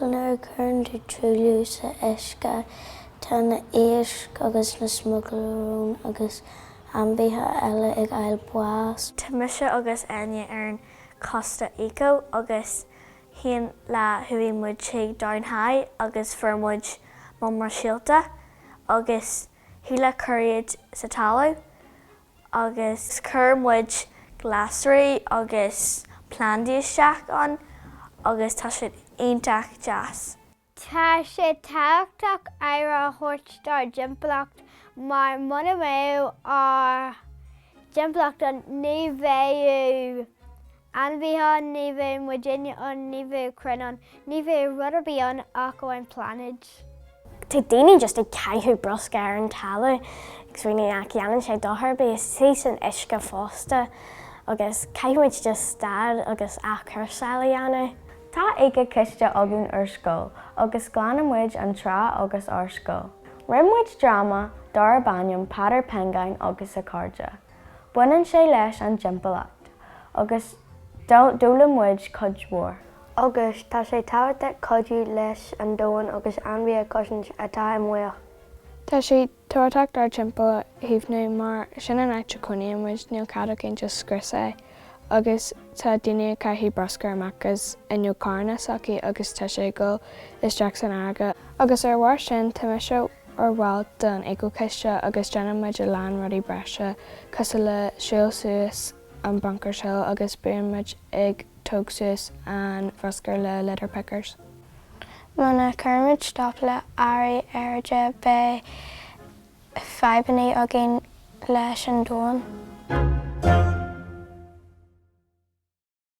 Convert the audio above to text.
Nuair a cuireann tú truailliú sa uisce, tá na héisc agus na smugailróin agus ainmhithe eile ag fáil bás. Tá mise agus Enya ar an Coiste Eco agus aon lá chuaigh muid chuig Down High agus fuair muid buama síolta agus thig leat cur iad sa talamh. agus chuir muid glasraí agus plandaí isteach ann agus tá siad iontach deas. Tá sé tábhachtach aire a thabhairt dár dtimpeallacht mar muna mbeadh ár dtimpeallacht ann ní bheadh. Ainmhithe, ní bheadh muidinne ann, ní bheadh crainn ann, ní bheadh rud ar bith ann ach amháin pláinéad. Tá daoine just ag caitheamh bruscar ar an talamh agus ag rá nach ndéanann sé dochar ar bith, is tá sé san uisce fosta agus caithfidh muid just stad agus athchúrsáil a dhéanamh. Tá éicea-choiste againn ar scoil agus glanann muid an trá agus ár scoil. Rinne muid dráma darb ainm Peadar Piongain agus a Chairde. Baineann sé leis an timpeallacht agus d'fhoghlaim muid cuid mhór. Agus tá sé tábhachtach cuidiú leis an domhan agus ainmhí a chosaint atá i mbaol. Tá sé tábhachtach ár dtimpeall a chaomhnú mar sin an áit a chónaíonn muid, níl cead ag aon duine scrios é. Agus tá daoine ag caitheamh bruscar amach as fhuinneog carranna s'acu agus tá sé ag dul isteach san fharraige. Agus ar a bharr sin, tá mise ar bhall den Eco-Choiste agus déanann muid a lán rudaí breise cosúil le siúl suas an Bunkers Hill agus bíonn muid ag tóg suas an bhruscar le litter pickers. Muna gcuirimid stop le athrú aeráide beidh fadhbanna againn leis an domhan.